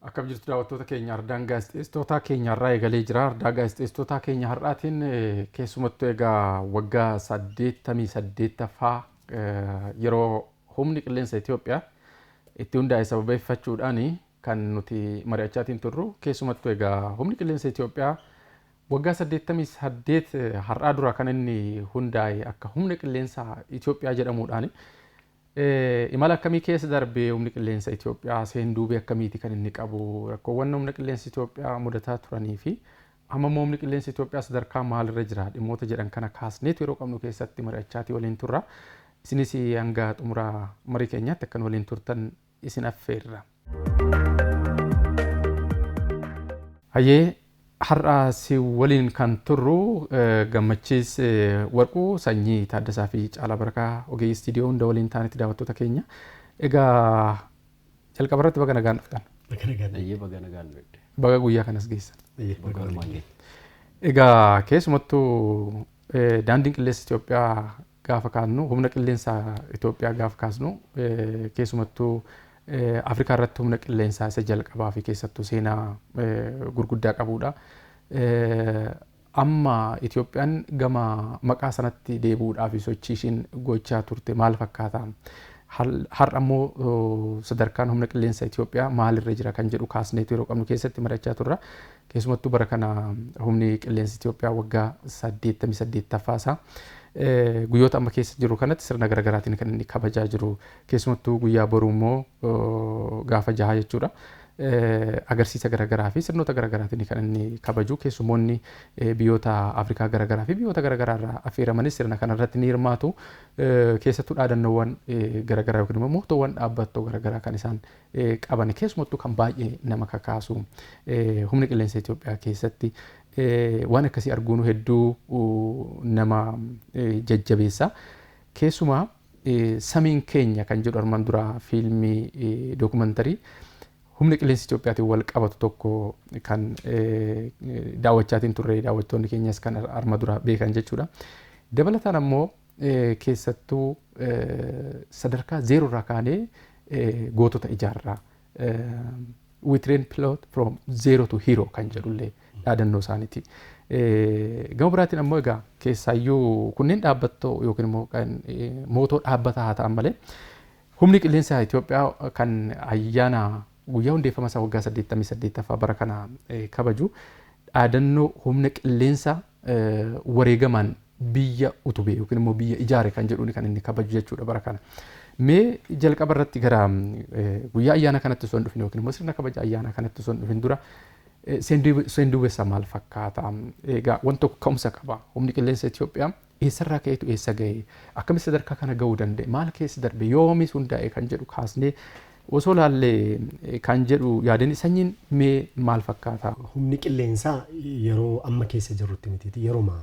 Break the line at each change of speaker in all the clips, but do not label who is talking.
Akkam jirtu daawwattoota keenya ardaan gaazexeessitootaa keenya har'aa eegalee jira. Ardaa gaazexeessitootaa keenya har'aatiin eh, keessumattuu egaa waggaa 88ffaa eh, yeroo humni qilleensa Itoophiyaa itti hundaa'e sababeeffachuudhaan kan nuti mari'achaatiin turru keessumattuu egaa humni qilleensa Itoophiyaa waggaa 88 eh, har'aa dura kan inni hundaa'e akka humna qilleensa Itoophiyaa jedhamuudhaani. Imala akkamii keessa darbee Humni Qilleensa Itoophiyaa? Seenduubee akkamiiti kan inni qabu? Rakkoowwan Humna Qilleensa Itoophiyaa mudataa turanii fi amma immoo Humni Qilleensa Itoophiyaa sadarkaa maalirra jira? Dhimmoota jedhan kana kaasneetu yeroo qabnu keessatti mari'achaatii waliin turra. Isinis hanga xumura marii keenyaatti akka nu waliin turtan isin affeerra. Hayyee har'a si waliin kan turru Gammachiis Warquu, Sanyii Taaddasaa fi Caalaa Barakaa ogeeyyii istiidiyoo hunda waliin taanetti daawwattoota keenya. Egaa jalqaba irratti baga nagaan dhuftan. Baga nagaan. Hayyee baga
nagaan dhufte. Baga guyyaa kanas
geessan. Hayyee Baga baga nagaan. walumaan geenye. Egaa keessumattuu eh, daandiin qilleensa Itoophiyaa gaafa kaannu, humna qilleensa Itoophiyaa gaafa kaasnu, keessumattuu Afrikaa irratti humna qilleensaa isa jalqabaa fi keessattuu seenaa gurguddaa qabuudha. Amma Itoophiyaan gama maqaa sanatti deebi'uudhaa fi sochii ishiin gochaa turte maal fakkaata? Har'a immoo sadarkaan humna qilleensa Itoophiyaa maalirra jira kan jedhu kaasneetu yeroo qabnu keessatti marachaa turra. Keessumattuu bara kana Humni Qilleensa Itiyoophiyaa waggaa 88ffaa isaa guyyoota amma keessa jiru kanatti sirna garagaraatiin kan inni kabajaa jiru. Keessumattuu guyyaa boruu immoo gaafa jahaa jechuudha. Agarsiisa garagaraa fi sirnoota garagaraatiin kan inni kabaju. Keessumoonni biyyoota Afrikaa garagaraa fi biyyoota garagaraa irraa affeeramanis sirna kanarratti ni hirmaatu. Keessattuu dhaadannoowwan garagaraa yookiin immoo mootoowwan dhaabbattoo garagaraa kan isaan qaban keessumattuu kan baay'ee nama kakaasu humna qilleensa Itoophiyaa keessatti waan akkasii arguun hedduu nama jajjabeessa. Keessumaa samiin keenya kan jedhu armaan duraa fiilmii dookumantarii humna qilleensa Itoophiyaatiin wal qabatu tokko kan daawwachaatiin turre daawwattoonni keenyas kan arma dura beekan jechuudha. Dabalataan ammoo keessattuu sadarkaa zeeroo irraa kaanee gootota ijaarraa. We train pilot from zero to hero kan jedhullee dhaadannoo isaaniiti. Gama biraatiin ammoo egaa keessaayyuu kunneen dhaabbattoo yookiin immoo kan mootoo dhaabbataa haa ta'an malee humni qilleensaa Itoophiyaa kan ayyaana guyyaa hundeeffama isaa waggaa 88ffaa bara kana kabaju dhaadannoo humna qilleensaa wareegamaan biyya utube yookiin immoo biyya ijaare kan jedhuun kan inni kabaju jechuudha bara kana. Mee jalqaba irratti gara guyyaa ayyaana kanatti osoo hin dhufin yookiin immoo sirna kabaja ayyaana kanatti osoo hin dhufin dura seenduubessa maal fakkaata? Egaa wanti tokko ka'umsa qaba. Humni qilleensa Itoophiyaa eessarraa ka'eetu eessa ga'e? Akkamitti sadarkaa kana ga'uu danda'e? Maal keessa darbe? Yoomis hundaa'e kan jedhu kaasnee osoo laalle kan jedhu yaadani sanyiin mee maal fakkaata? Humni qilleensaa
yeroo amma keessa jirrutti mitiiti yeroma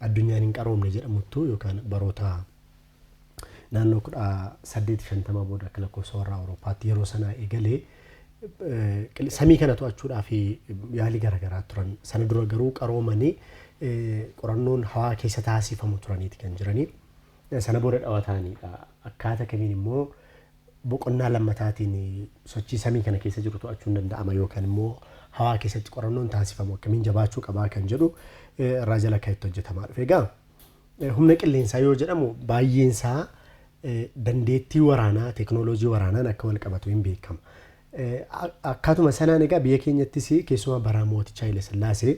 addunyaan hin qaroomne jedhamuttu yookaan baroota naannoo 1850 booda akka lakkoofsa warraa Awurooppaatti yeroo sanaa eegalee samii kana to'achuudhaa fi yaalii garaagaraa turan sana dura garuu qaroomanii qorannoon hawaa keessa taasifamu turaniiti kan jiranii sana booda dhawataaniidha akkaata kamiin immoo boqonnaa lammataatiin sochii samii kana keessa jiru to'achuun danda'ama yookaan immoo hawaa keessatti qorannoon taasifamu akkamiin jabaachuu qabaa kan jedhu irraa jala kan itti hojjetamaa dhufe. Egaa humna qilleensaa yoo jedhamu baay'een isaa dandeettii waraanaa teeknooloojii waraanaan akka wal qabatu hin beekama. Akkaatuma sanaan egaa biyya keenyattis keessumaa bara mootichaa Haile Sillaasee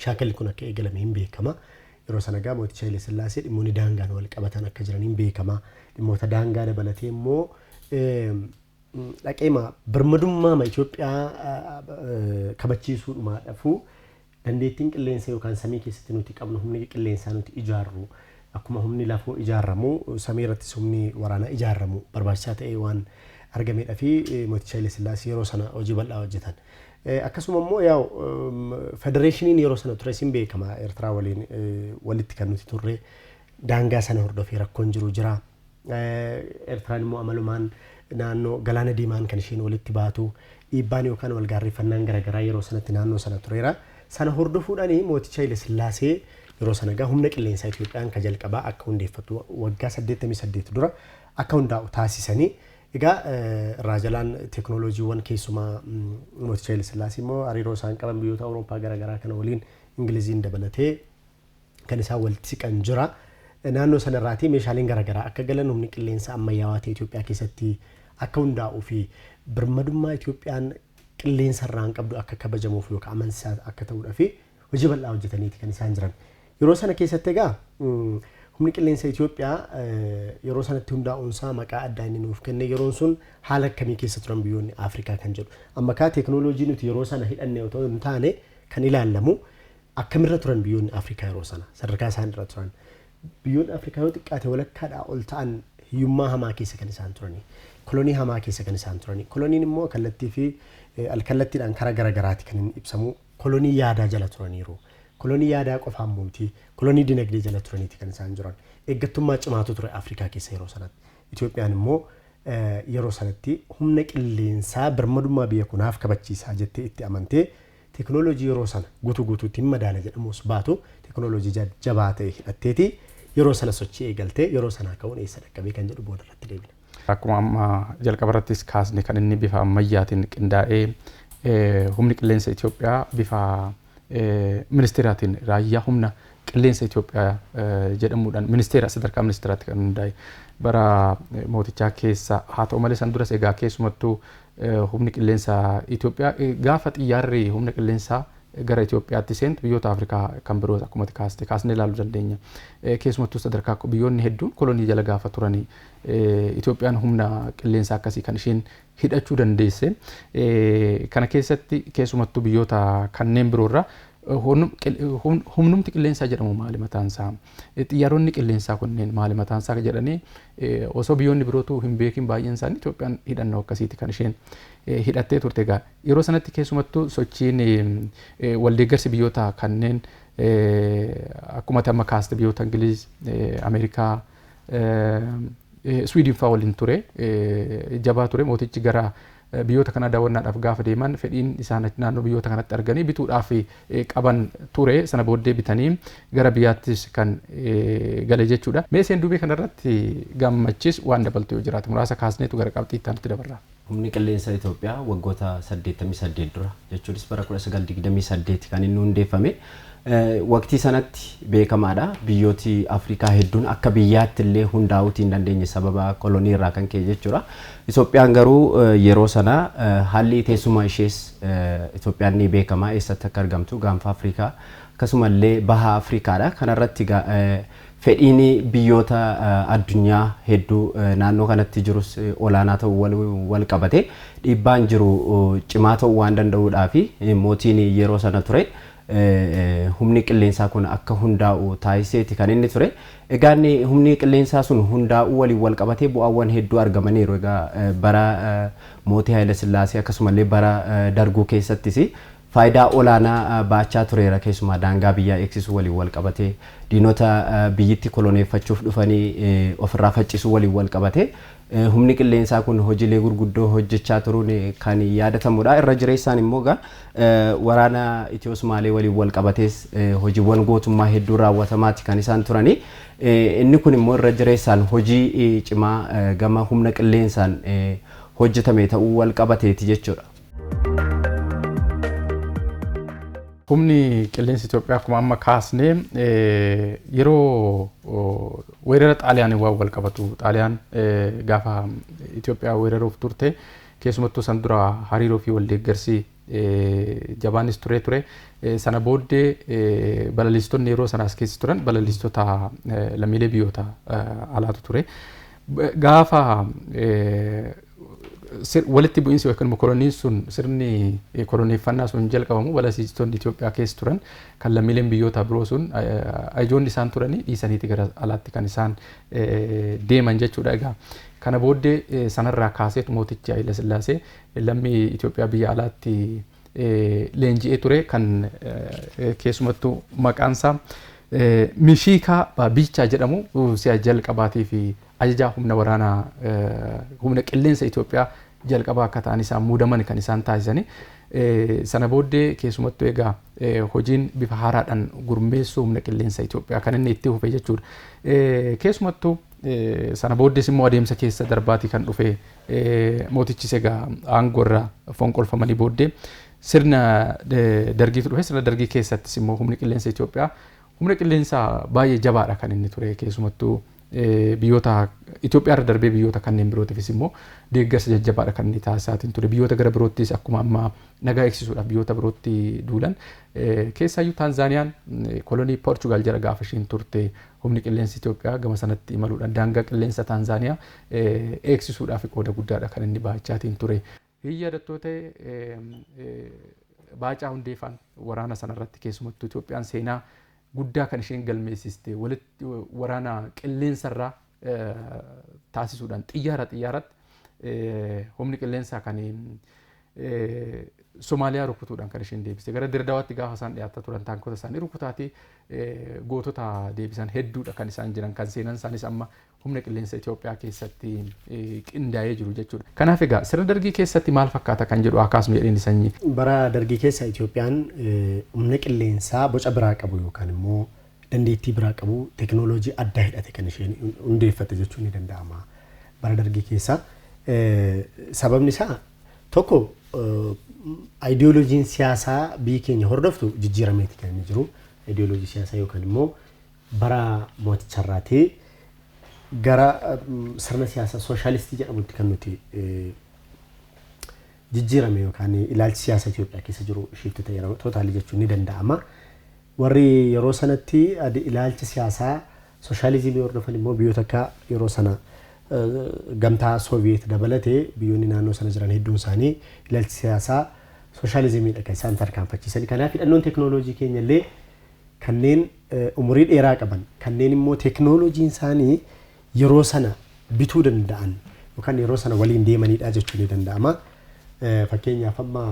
Shaakalli kun akka eegalame hin beekama. Yeroo sana egaa mootichi Haile Sillaasee dhimmoonni daangaan wal qabatan akka jiran hin beekama. Dhimmoota daangaa dabalatee immoo dhaqeema birmadummaama Itoophiyaa kabachiisuudhumaa dhafuu dandeettiin qilleensa yookaan samii keessatti nuti qabnu humni qilleensaa nuti ijaarru akkuma humni lafoo ijaarramu samii irrattis humni waraanaa ijaarramu barbaachisaa ta'ee waan argameedha fi mooticha Haile Sillaasee yeroo sana hojii bal'aa hojjetan. Akkasuma immoo yaa'u federeeshiniin yeroo sana tures hin beekama Eertiraa waliin walitti kan nuti turre daangaa sana hordofee rakkoon jiru jira. Eertiraan immoo amalumaan naannoo galaana diimaan kan isheen walitti baatu dhiibbaan yookaan wal gaarreeffannaan garaagaraa yeroo sanatti naannoo sana tureera. Sana hordofuudhaan mooticha Haile Sillaasee yeroo sana egaa humna qilleensaa Itoophiyaan ka jalqabaa akka hundeeffatu waggaa 88 dura akka hundaa'u taasisanii Egaa irraa jalaan teeknooloojiiwwan keessumaa Mooticha Hayila Sillaasee immoo hariiroo isaan qaban biyyoota Awurooppaa gara garaa kana waliin Ingiliziin dabalatee kan isaan walitti siqan jira. Naannoo sana irraatii meeshaaleen gara garaa akka galan humni qilleensa ammayyaawaa ta'e Itoophiyaa keessatti akka hundaa'uu fi birmadummaa Itoophiyaan qilleensa irraan qabdu akka kabajamuuf yookaan amansiisaa akka ta'uudha fi hojii bal'aa hojjetaniiti kan isaan jiran. Yeroo sana keessatti egaa humni qilleensa Itoophiyaa yeroo sanatti hundaa'uunsaa maqaa addaa inni nuuf kenne yeroon sun haala akkamii keessa turan biyyoonni Afrikaa kan jedhu. Amma kaa teekinooloojii nuti yeroo sana hidhanne otoo hin taane kan ilaallamu akkamirra turan biyyoonni Afrikaa yeroo sana sadarkaa isaan irra turan. Biyyoonni Afrikaa yoo xiqqaate walakkaadhaa ol ta'an hiyyummaa hamaa keessa kan isaan turani. Kolonii hamaa keessa kan isaan turani. Koloniin immoo kallattii fi alkallattiidhaan karaa garaagaraati kan inni ibsamu. kolonii yaadaa jala turaniiru. Kolonii yaadaa qofaa immoo miti, kolonii dinagdee jala turaniiti kan isaan jiran. Eeggattummaa cimaatu ture Afrikaa keessa yeroo sanatti. Itoophiyaan immoo yeroo sanatti humna qilleensaa birmadummaa biyya koo naaf kabachiisaa jettee itti amantee teknooloojii yeroo sana guutuu guutuutti hin madaala jedhamuus baatu teknooloojii jajjabaa ta'e hidhatteeti yeroo sana sochii eegaltee yeroo sanaa ka'uun eessa dhaqqabee kan jedhu booda irratti deebina. Akkuma amma
jalqabarrattis kaasne kan inni bifa ammayyaatiin qindaa'ee humni qilleensa Itoophiyaa bifa ministeeraatiin raayyaa humna qilleensa Itoophiyaa jedhamuudhaan ministeera sadarkaa ministeeraatti kan hundaa'e bara mootichaa keessa haa ta'u malee san duras egaa keessumattuu humni qilleensa Itoophiyaa gaafa xiyyaarri humna qilleensaa gara Itoophiyaatti seentu biyyoota Afrikaa kan biroos akkuma kaaste kaasnee ilaaluu dandeenya. Keessumattuu sadarkaa biyyoonni hedduun kolonii jala gaafa turanii Itoophiyaan humna qilleensaa akkasii kan isheen hidhachuu dandeesse kana keessatti keessumattuu biyyoota kanneen biroorra humnumti qilleensaa jedhamu maali mataansaa xiyyaaronni qilleensaa kunneen maali mataansaa jedhanii osoo biyyoonni birootu hin beekin baay'een isaanii Itoophiyaan hidhannoo akkasiiti kan isheen hidhattee turte egaa yeroo sanatti keessumattuu sochiin waldeeggarsi biyyoota kanneen akkuma amma kaaste biyyoota Ingiliiz Ameerikaa Swiidin fa'aa waliin ture. Jabaa ture mootichi gara biyyoota kanaa daawwannaadhaaf gaafa deeman fedhiin isaan naannoo biyyoota kanatti arganii bituudhaaf qaban ture sana booddee bitanii gara biyyaattis kan gale jechuudha. Mee seenduubee kanarratti gammachis waan dabaltu yoo jiraate muraasa kaasneetu gara qabxii itti aanutti dabarra. Humni Qilleensa
Itoophiyaa waggoota 88 dura jechuunis bara 1928 kan inni hundeeffame. Waqtii sanatti beekamaadha. Biyyooti Afrikaa hedduun akka biyyaatti illee hundaa'uutii hin dandeenye sababa kolonii irraa kan ka'e jechuudha. Itoophiyaan garuu yeroo sana haalli teessuma ishees Itoophiyaan ni beekama eessatti akka argamtu gaanfa Afrikaa akkasuma illee baha Afrikaadha. Kanarratti Fedhiin biyyoota addunyaa hedduu naannoo kanatti jirus olaanaa ta'uu waliin walqabatee dhiibbaan jiru cimaa ta'uu waan danda'uudhaafi mootiin yeroo sana ture humni qilleensaa kun akka hundaa'u taasiseeti kan inni ture. Egaa inni humni qilleensaa sun hundaa'uu waliin walqabatee bu'aawwan hedduu argamaniiru. Egaa bara mootii Hayilasillaasee akkasumallee bara Darguu keessattis faayidaa olaanaa ba'achaa tureera. Keessumaa daangaa biyyaa eegsisuu waliin walqabatee, diinota biyyitti koloneeffachuuf dhufanii ofirraa faccisuu waliin walqabatee humni qilleensaa kun hojiilee gurguddoo hojjechaa turuun kan yaadatamudha. Irra jireessaan immoo egaa waraana Itiyoo-Sumaalee waliin walqabatees hojiiwwan gootummaa hedduun raawwatamaati kan isaan turanii. Inni kun immoo irra jireessaan hojii cimaa gama humna qilleensaan hojjetame ta'uu walqabateeti jechuudha.
Humni qilleensa Itoophiyaa akkuma amma kaasne yeroo weerara Xaaliyaaniin waan wal qabatu Xaaliyaan gaafa Itoophiyaa weeraruuf turte keessumattuu san dura hariiroo fi wal deeggarsi jabaanis turee ture. Sana booddee balaliistonni yeroo sana as keessa turan balaliistota lammiilee biyyoota alaatu ture. Gaafa walitti bu'iinsi yookiin immoo koloniin sun sirni koloneeffannaa sun jalqabamu balasiistonni Itoophiyaa keessa turan kan lammiileen biyyoota biroo sun ajoonni isaan turanii dhiisaniiti gara alaatti kan isaan deeman jechuudha. Egaa kana booddee sanarraa kaaseet mootichi Hayila Sillaasee lammii Itoophiyaa biyya alaatti leenji'ee ture kan keessumattuu maqaansaa Mishiikaa Biichaa jedhamu si'a jalqabaatiif Ajajaa Humna Waraanaa Humna Qilleensa Itoophiyaa jalqabaa akka ta'an isaan muudaman kan isaan taasisani. Sana booddee keessumattuu egaa hojiin bifa haaraadhaan gurmeessuu humna qilleensa Itoophiyaa kan inni itti fufe jechuudha. Keessumattuu sana booddees immoo adeemsa keessa darbaatii kan dhufe mootichis egaa aangoo irraa fonqolfamanii booddee sirna dargiitu dhufe sirna dargii keessattis immoo humni qilleensa Itoophiyaa humna qilleensaa baay'ee jabaadha kan inni ture keessumattuu biyyoota Itoophiyaa irra darbee biyyoota kanneen birootiifis immoo deeggarsa jajjabaadha kan inni taasisaatiin ture. Biyyoota gara biroottis akkuma amma nagaa eegsisuudhaaf biyyoota birootti duulan. Keessaayyuu Taanzaaniyaan kolonii Poorchugaal jala gaafa ishiin turte humni qilleensi Itoophiyaa gama sanatti imaluudhaan daangaa qilleensa Taanzaaniyaa eegsisuudhaaf qooda guddaadha kan inni bahachaatiin ture. Hin yaadattuu ta'e Baacaa Hundeefaan waraana sana irratti keessumattuu Itoophiyaan seenaa guddaa kan isheen galmeessiste walitti waraana qilleensa irraa taasisuudhaan xiyyaara xiyyaaratti humni qilleensaa kan Somaaliyaa rukutuudhaan kan isheen deebiste gara Dirdawaatti gaafa isaan dhiyaataa turan taankota isaanii rukutaatee gootota deebisan hedduudha kan isaan jiran kan seenan isaanis amma humna qilleensa Itoophiyaa keessatti qindaa'ee jiru jechuudha. Kanaaf egaa sirna dargii keessatti maal fakkaata kan jedhu haa kaasnu jedheen sanyii. Bara dargii keessa
Itoophiyaan humna qilleensaa boca biraa qabu yookaan immoo dandeettii biraa qabu tekinooloojii adda hidhate kan isheen hundeeffatte jechuun ni danda'ama. Bara dargii keessa sababni isaa tokko ayidiyooloojiin siyaasaa biyyi keenya hordoftu jijjiirameeti kan inni jiru. Ayidiyooloojii siyaasaa yookaan immoo bara mooticha irraati gara sirna siyaasa sooshaalistii jedhamutti kan nuti jijjiirame yookaan ilaalchi siyaasa Itoophiyaa keessa jiru shiifti ta'e yeroo tootaalii jechuun ni danda'ama. Warri yeroo sanatti ilaalcha siyaasaa sooshaalizimii hordofan immoo biyyoota akka yeroo sana gamtaa Sooviyeet dabalatee biyyoonni naannoo sana jiran hedduun isaanii ilaalchi siyaasaa sooshaalizimiidha kan isaan tarkaanfachiisan. Kanaaf hidhannoon teekinooloojii keenya illee kanneen umurii dheeraa qaban, kanneen immoo teeknooloojiin isaanii yeroo sana bituu danda'an yookaan yeroo sana waliin deemanidha jechuun ni danda'ama. Fakkeenyaaf amma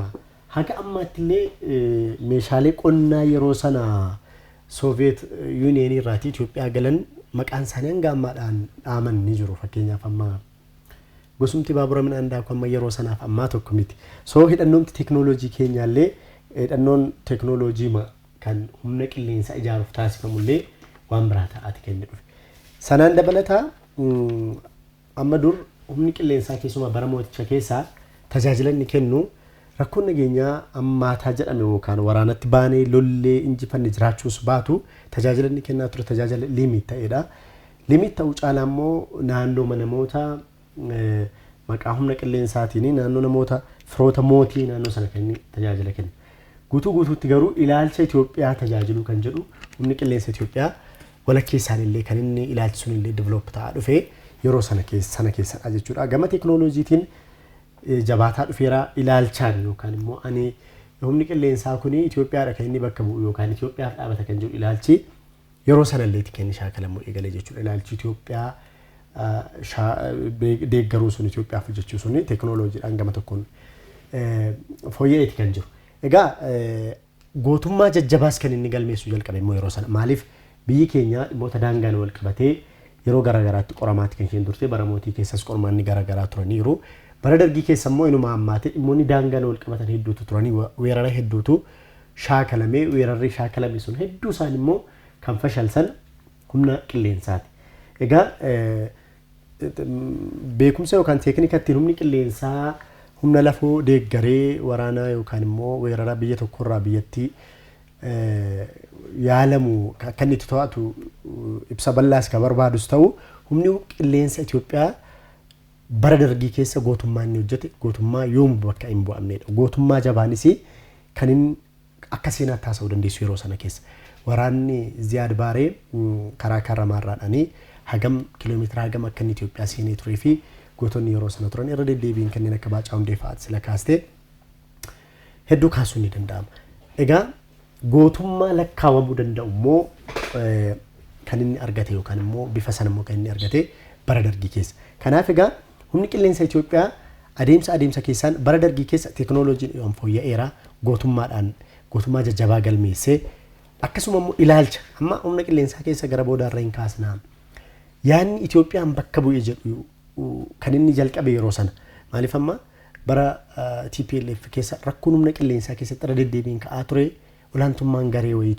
haga ammaatti illee meeshaalee qonnaa yeroo sana Sooviyeet Yuuniyeenii irraatii Itoophiyaa galan maqaan isaanii hanga ammaadhaan dhaaman ni jiru. Fakkeenyaaf amma gosumti baabura midhaan daaku amma yeroo sanaaf ammaa tokko miti. Soo hidhannoomti teeknooloojii keenyaallee hidhannoon teeknooloojii kan humna qilleensaa ijaaruuf taasifamu illee waan biraa ta'aati kan inni dhufe. Sanaan dabalataa amma dur humni qilleensaa keessumaa bara mooticha keessaa tajaajila inni kennu rakkoon nageenyaa ammaataa jedhame yookaan waraanatti baanee lollee injifanne jiraachuus baatu tajaajila inni kennaa ture tajaajila liimiit ta'edha. Liimiit ta'uu caalaa immoo naannooma namoota Maqaa humna qilleensaatiin naannoo namoota firoota mootii naannoo sana kan inni tajaajila kennu. Guutuu guutuutti garuu ilaalcha Itoophiyaa tajaajiluu kan jedhu humni qilleensa Itoophiyaa walakkeessaan illee kan inni ilaalchi sun illee develop ta'aa dhufee yeroo sana keessa sana keessadha jechuudha. Gama teekinooloojiitiin eh, jabaataa dhufeera ilaalchaan yookaan immoo ani humni qilleensaa kun Itoophiyaadha kan inni bakka bu'u yookaan Itoophiyaaf dhaabata kan jedhu ilaalchi Yeroo sanallee tikeenni shaakalamuu eegale jechuudha. Ilaalchi Itoophiyaa deeggaruun sun Itoophiyaaf hojjechuu sun teekinooloojiidhaan gama tokkoon fooyya'eeti kan jiru. Egaa gootummaa jajjabaas kan inni galmeessuu jalqabe immoo yeroo sana maaliif biyyi keenya dhimmoota daangaan wal qabatee yeroo garaagaraatti qoramaatti kan isheen turte bara mootii keessas qormaanni garaagaraa turaniiru. Bara dargii keessa immoo inuma ammaatee dhimmoonni daangaan wal qabatan hedduutu turanii weerara hedduutu shaakalamee weerarri shaakalame sun hedduu isaan immoo kan fashalsan humna qilleensaati. Egaa beekumsa yookaan teeknika ittiin humni qilleensaa humna lafoo deeggaree waraanaa yookaan immoo weerara biyya tokkorraa biyyattii yaalamu akka inni itti to'atu ibsa bal'aas kan barbaadus ta'u humni qilleensa Itoophiyaa Bara Dargii keessa gootummaan inni hojjete gootummaa yoomu bakka hin bu'amneedha. Gootummaa jabaanis kan inni akka seenaatti haasa'uu dandeessu yeroo sana keessa. Waraanni Ziyaad Baaree karaa Kaarramaarraadhaan hagam kiiloomeetira hagam akka inni Itoophiyaa seenee turee fi gootonni yeroo sana turan irra deddeebiin kanneen akka Baacaa Hundeefaa ati sila kaastee hedduu kaasuun ni danda'ama. Egaa Gootummaa lakkaawamuu danda'u immoo kan inni argate yookaan immoo bifa sana immoo kan inni argate bara dargii keessa. Kanaaf egaa humni qilleensa Itoophiyaa adeemsa adeemsa keessaan bara dargii keessa teekinooloojiin waan fooyya'eera gootummaadhaan gootummaa jajjabaa galmeessee akkasuma immoo ilaalcha amma humna qilleensaa keessa gara boodaarra hin kaasnaa. Yaanni Itoophiyaan bakka bu'ee jedhu kan inni jalqabe yeroo sana. Maaliif amma bara TPLF keessa rakkoon humna qilleensaa keessatti irra deddeebiin ka'aa ture olaantummaan garee wayii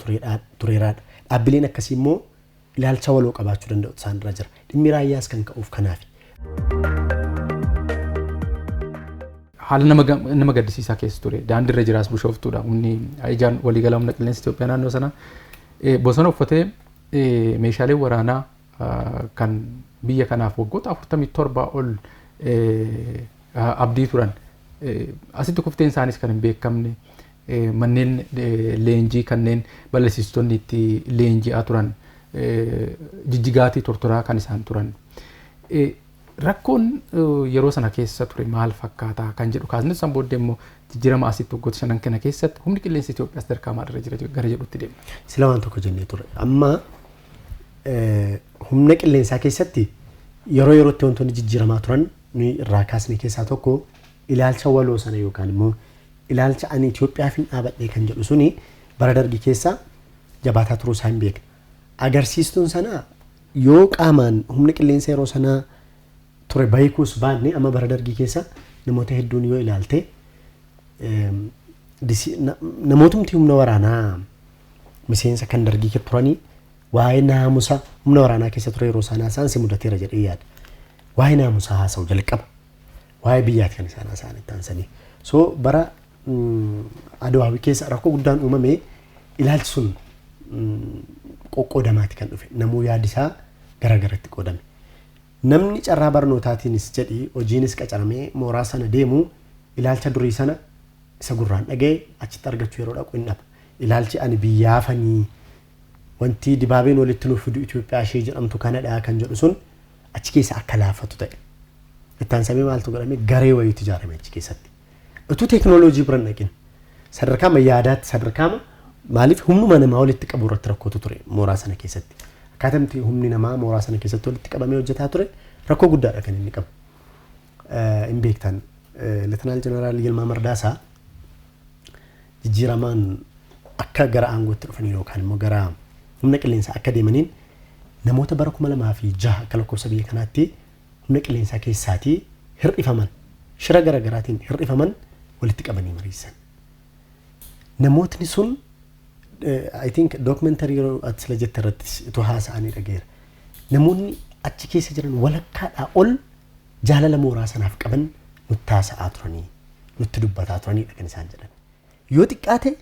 tureeraadha. Dhaabbileen akkasii immoo ilaalcha waloo qabaachuu danda'u isaan irra jira. Dhimmi raayyaas kan ka'uuf kanaafi.
Haala nama gaddisiisaa keessa ture. Daandii irra jiraas bushooftuudha. Humni ijaan waliigalaa humna qilleensa Itoophiyaa naannoo sana bosona uffatee meeshaalee waraanaa kan biyya kanaaf waggoota 47 ol abdii turan asitti kufteen isaaniis kan hin beekamne manneen leenjii kanneen balleessistonni itti leenji'aa turan jijjigaatii tortoraa kan isaan turan. Rakkoon yeroo sana keessa ture maal fakkaataa kan jedhu kaasne san booddee immoo jijjiirama asitti waggoota shanan kana keessatti humni qilleensa Itoophiyaa sadarkaa maalirra jira gara jedhutti deema. Sila waan tokko jennee
ture. Amma Humna qilleensaa keessatti yeroo yerootti wantoonni jijjiiramaa turan nuyi irraa kaasne keessaa tokko ilaalcha waloo sana yookaan immoo ilaalcha ani Itoophiyaaf hin dhaabadhee kan jedhu suni bara dargii keessa jabaataa turuu isaa hin beekne. Agarsiistuun sanaa yoo qaamaan humni qilleensa yeroo sanaa ture beekuus baanne amma bara dargii keessa namoota hedduun yoo ilaalte namootni humna waraanaa miseensa kan dargii kee turanii waa'ee naamusa humna waraanaa keessa ture yeroo isaan haasa'an si mudateera jedhee yaada. Waa'ee naamusaa haasa'u jalqaba. Waa'ee biyyaati kan isaan haasa'an itti aansanii. So bara mm, Adwaawii keessa rakkoo guddaan uumame ilaalchi sun mm, qoqqoodamaati kan dhufe. Namuu yaadi isaa gara garatti qoodame. Namni carraa barnootaatiinis jedhi hojiinis qacaramee mooraa sana deemu ilaalcha durii sana isa gurraan dhaga'e achitti argachuu yeroo dhaqu hin dhaba. Ilaalchi ani biyyaafani wanti Dibaabeen walitti nuuf fidu Itoophiyaa ishee jedhamtu kanadha kan jedhu sun achi keessa akka laaffatu ta'e. Itti aansamee maaltu godhame garee wayiitu ijaarame achi keessatti. Utuu teeknooloojii bira hin dhaqin sadarkaama yaadaatti sadarkaama maaliif humnuma namaa walitti qabu irratti rakkootu ture mooraa sana keessatti. Akkaatamti humni namaa mooraa sana keessatti walitti qabamee hojjetaa ture rakkoo guddaadha kan inni qabu. Eh, Hin beektan. Eh, Letinaal Jeneraal Yilmaa Mardaasaa jijjiiramaan akka gara aangootti dhufaniin yookaan immoo gara humna qilleensaa akka deemaniin namoota bara 2006 akka lakkoofsa biyya kanaatti humna qilleensaa keessaatii hir'ifaman shira gara garaatiin hir'ifaman walitti qabanii mariisan. Namootni sun I think documentary yeroo ati sila jette irratti utuu haasa'anii dhageera. Namoonni achi keessa jiran walakkaadhaa ol jaalala mooraa sanaaf qaban nutti haasa'aa turanii, nutti dubbataa turaniidha kan isaan jedhan. Yoo xiqqaate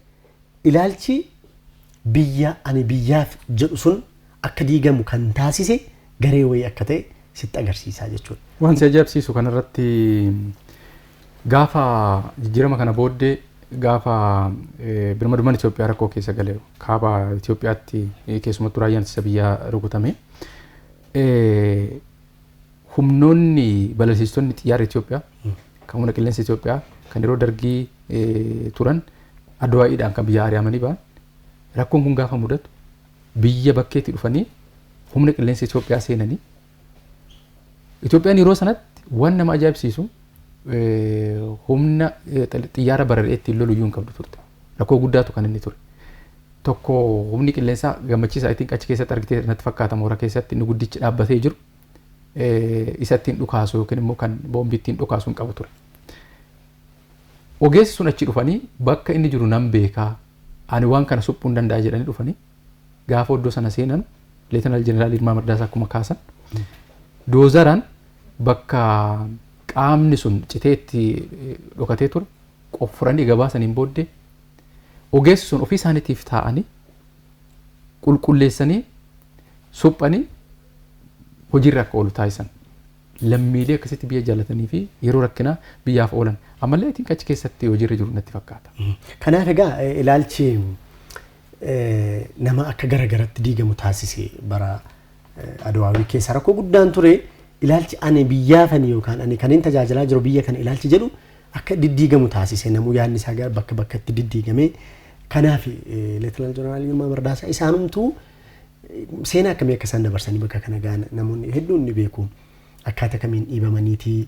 ilaalchi biyya ani biyyaaf jedhu sun akka diigamu kan taasise garee wayii akka ta'e sitti agarsiisaa jechuudha. Waan si ajaa'ibsiisu
kanarratti gaafa jijjiirama kana booddee gaafa birmadummaan Itoophiyaa rakkoo keessa gale kaaba Itoophiyaatti keessumattuu raayyaan ittisa biyyaa rukutame humnoonni balalsiistonni xiyyaara Itoophiyaa kan humna qilleensa Itoophiyaa kan yeroo dargii eh, turan adawaa'iidhaan kan biyya ari'amanii ba'an rakkoon kun gaafa mudatu biyya bakkeetti dhufanii humna qilleensa Itoophiyaa seenanii Itoophiyaan yeroo sanatti waan nama ajaa'ibsiisu eh, humna eh, xiyyaara bararee ittiin lolu iyyuu hin qabdu turte. Rakkoo guddaatu kan inni ture. Tokko humni qilleensaa gammachiisa I think achi keessatti argitee natti fakkaata moora keessatti inni guddichi dhaabbatee jiru eh, isa ittiin dhukaasu yookiin immoo kan boombii ittiin dhukaasu hin qabu ture. Ogeessi sun achi dhufanii bakka inni jiru nan beekaa ani waan kana suphuu hin danda'a jedhanii dhufanii gaafa iddoo sana seenan leetanaal jeneraal Ilmaa Mardaasaa akkuma kaasan doozaraan bakka qaamni sun citee itti eh, dhokatee ture qoffuranii gabaasaniin booddee ogeessi sun ofii isaaniitiif taa'anii qulqulleessanii suphanii hojiirra akka oolu taasisan. Lammiilee akkasitti biyya jaallatanii fi yeroo rakkinaa biyyaaf oolan ammallee itti achi keessatti hojiirra jiru natti fakkaata. Kanaaf egaa
eh, ilaalchi eh, nama akka gara garatti diigamu taasise bara eh, Adawaawii keessa rakkoo guddaan ture ilaalchi ani biyyaafani yookaan ani kanin tajaajilaa jiru biyya kana ilaalchi jedhu akka diddiigamu taasise namuu yaadni isaa gara bakka bakkatti diddiigame kanaaf leetinaal jeneraal Yilmaa Mardaasaa isaanumtuu eh, seenaa akkamii akka isaan dabarsanii bakka kana ga'an namoonni hedduun ni beeku akkaataa kamiin dhiibamaniitii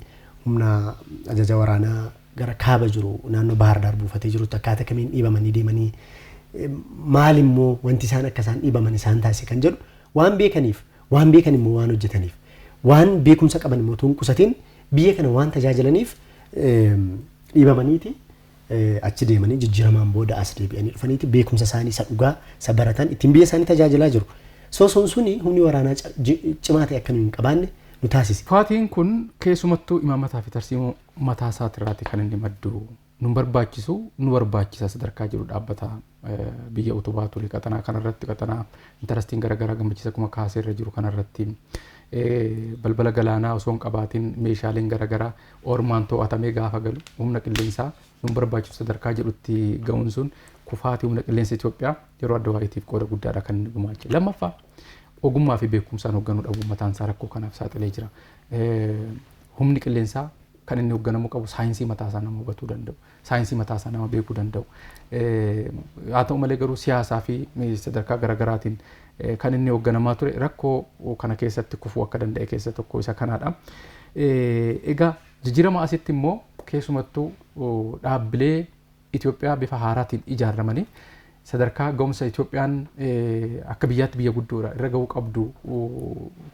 humna ajaja waraanaa gara kaaba jiru naannoo Baahar Daar buufatee jirutti akkaataa kamiin dhiibamanii deemanii eh, maal immoo wanti isaan akka isaan dhiibaman isaan taasise kan jedhu waan beekaniif Waan beekan immoo waan hojjetaniif, waan beekumsa qaban immoo utuu hin qusatiin biyya kana waan tajaajilaniif dhiibamaniiti achi deemanii jijjiiramaan booda as deebi'anii dhufaniiti beekumsa isaanii isa dhugaa isa baratan ittiin biyya isaanii tajaajilaa jiru. So sun suni humni waraanaa ca- ji- cimaa ta'e akka nuyi hin qabaanne nu taasise. Kufaatiin kun
keessumattuu imaamataa fi tarsiimoo mataa isaatirraati kan inni maddu. nun barbaachisu nu barbaachisa sadarkaa jedhu dhaabbata biyya utubaa ture qaxanaa kanarratti qaxanaa intarastiin garaagaraa gammachiisa akkuma kaasee irra jiru kanarratti balbala galaanaa osoo hin qabaatiin meeshaaleen garaagaraa ormaan to'atamee gaafa galu humna qilleensaa nun barbaachisu sadarkaa jedhutti ga'uun sun kufaatii humna qilleensa Itoophiyaa yeroo adda waa'eetiif qooda guddaadha kan inni gumaache. Lammaffaa ogummaa fi beekumsaan hoogganuu dhabuun mataan isaa rakkoo kanaaf saaxilee jira. Humni qilleensaa kan inni hogganamuu qabu saayinsii mataa isaa nama hubatuu danda'u, saayinsii mataa isaa nama beekuu danda'u. Haa ta'u malee garuu siyaasaa fi sadarkaa garaagaraatiin kan inni hogganamaa ture rakkoo kana keessatti kufuu akka danda'e keessa tokko isa kanaadha. Egaa jijjiirama asitti immoo keessumattuu dhaabbilee Itoophiyaa bifa haaraatiin ijaarramanii sadarkaa ga'umsa Itoophiyaan akka biyyaatti biyya guddoodha irra ga'uu qabdu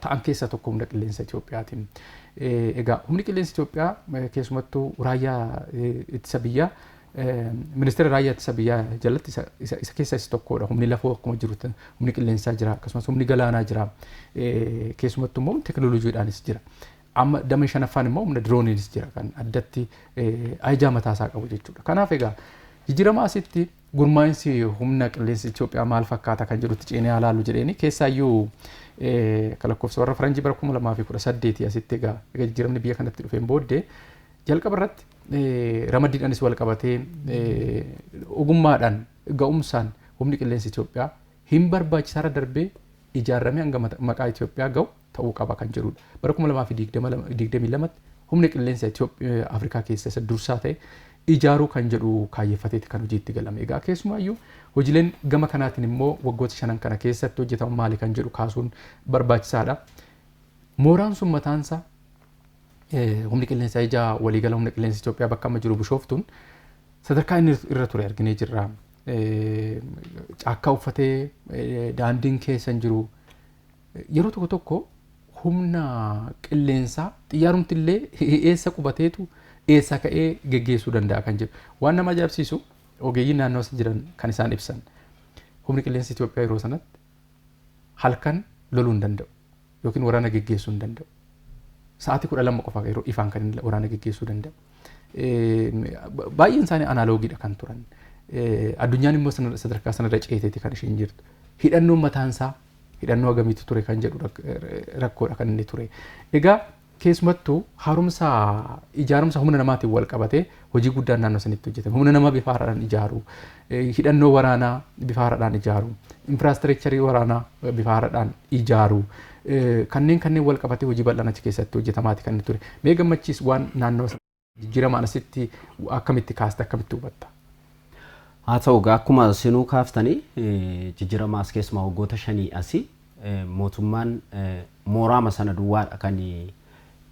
ta'an keessaa tokko humna qilleensa Itoophiyaati. Egaa humni qilleensa Itoophiyaa keessumattuu raayyaa ittisa biyyaa ministeera raayyaa ittisa biyyaa jalatti isa keessa isa tokkodha. Humni lafoo akkuma jiru humni qilleensaa jira akkasumas humni galaanaa jira. Keessumattuu immoo teknooloojiidhaanis jira. Amma damee shanaffaan immoo humna dirooniinis jira kan addatti ajajaa mataa isaa qabu jechuudha. Kanaaf egaa jijjiirama asitti gurmaa'insi humna qilleensa Itoophiyaa maal fakkaata kan jedhutti ceenee haa laallu jedheeni keessaayyuu akka lakkoofsa warra faranjii bara 2018 asitti egaa egaa jijjiiramni biyya kanatti dhufeen booddee jalqaba irratti ramaddiidhaanis wal qabatee ogummaadhaan ga'umsaan humni qilleensa Itoophiyaa hin barbaachisaarra darbee ijaarramee hanga maqaa Itoophiyaa ga'u ta'uu qaba kan jedhuudha. Bara 2022tti humna qilleensa Afrikaa keessa isa dursaa ta'e ijaaruu kan jedhu kaayyeffateeti kan hojiitti galame. Egaa keessumaayyuu hojileen gama kanaatiin immoo waggoota shanan kana keessatti hojjetamu maali kan jedhu kaasuun barbaachisaadha. Mooraan sun mataansa humni qilleensa ijaa waliigala humna qilleensa Itoophiyaa bakka amma jiru bishooftuun sadarkaa inni irra ture arginee jirra. Caakkaa uffatee daandiin keessa hin jiru. Yeroo tokko tokko humna qilleensaa xiyyaarumti illee eessa qubateetu eessaa ka'ee geggeessuu danda'a kan jedhu. Waan nama ajaa'ibsiisu ogeeyyiin naannoo sana jiran kan isaan ibsan. Humni qilleensa Itoophiyaa yeroo sanatti halkan loluu hin danda'u yookiin waraana geggeessuu hin danda'u. Sa'aatii kudha lama qofa yeroo ifaan kan inni waraana geggeessuu danda'u. Baay'een isaanii anaaloogiidha kan turan. Addunyaan immoo sadarkaa sanarra ceeteeti kan isheen jirtu. Hidhannoon mataan isaa hidhannoo agamiitu ture kan jedhu rakkoodha kan inni ture. Egaa keessumattuu haaromsa ijaarumsa humna namaatiin wal qabatee hojii guddaan naannoo sanitti hojjetame. Humna namaa bifa haaraadhaan ijaaru, hidhannoo waraanaa bifa haaraadhaan ijaaru, infiraastireekcharii waraanaa bifa haaraadhaan ijaaru. Kanneen kanneen wal qabatee hojii bal'aan achi keessatti hojjetamaati kan inni ture. Mee gammachiis waan naannawa sana jijjiiramaan asitti akkamitti kaasta akkamitti hubatta? Haa
ta'u egaa akkuma isinuu kaaftanii jijjiirama as keessumaa waggoota shanii asii mootummaan mooraama sana duwwaadha kan